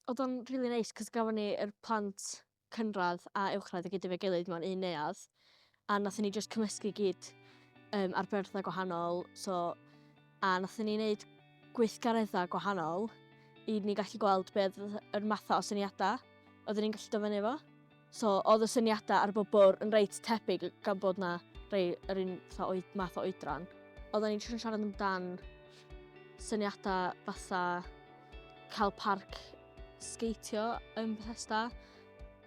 Oedd o'n rili neis cos gafon ni yr plant cynradd a uwchradd i gyd efo'i gilydd mewn un neuadd a nathon ni jyst cymysgu i gyd um, ar berthau gwahanol so a nathon ni wneud gweithgareddau gwahanol i ni gallu gweld beth yr mathau o syniadau oedden ni'n gallu dyfynnu efo. So oedd y syniadau ar bob bwrdd yn reit tebyg gan bod na rei yr un fatha oed, math o oedran. Oedden ni'n trio siarad amdan syniadau fatha cael parc sgeitio yn Bethesda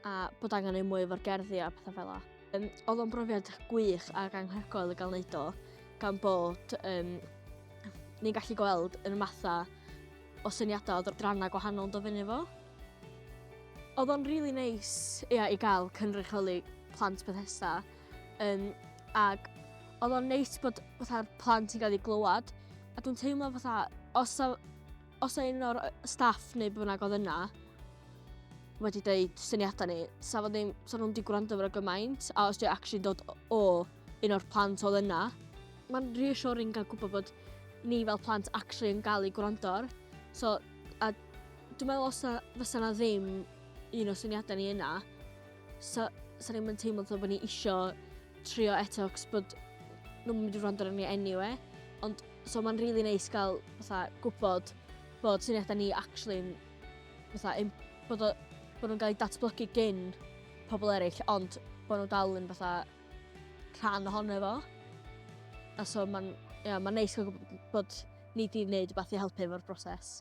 a bod angen ei mwy o'r gerddi a pethau fel la. Um, oedd o'n brofiad gwych ac anhygoel i gael wneud o gan bod um, ni'n gallu gweld yn y mathau o syniadau o ddrannau gwahanol yn dod fyny fo. Oedd o'n rili neis ia i gael cynrychioli plant Bethesda yym ac oedd o'n neis bod fatha'r plant yn cael eu glywed a dwi'n teimlo fatha os o, os o un o'r staff neu beth bynnag oedd yna wedi dweud syniadau ni, sa fo ddim, sa nhw'n di gwrando fyrra gymaint a os dwi'n actually dod o un o'r plant oedd yna. Mae'n reassuring gael gwybod bod ni fel plant actually yn gael ei gwrando ar. So, a Dwi'n meddwl os na, fysa na ddim un o syniadau ni yna, sa, sa ni'n mynd teimlo bod ni isio trio eto, cos bod nhw'n mynd i wrando arno ni anyway. Ond, so mae'n rili really neis gael, fatha, gwybod bod syniadau ni actually, fatha, im, bod, o, bod nhw'n cael eu datblygu gyn pobl eraill, ond bod nhw dal yn, fatha, rhan ohono fo. A so mae'n, ia, mae'n neis cael gwybod bod ni wedi gwneud rhywbeth i helpu efo'r broses.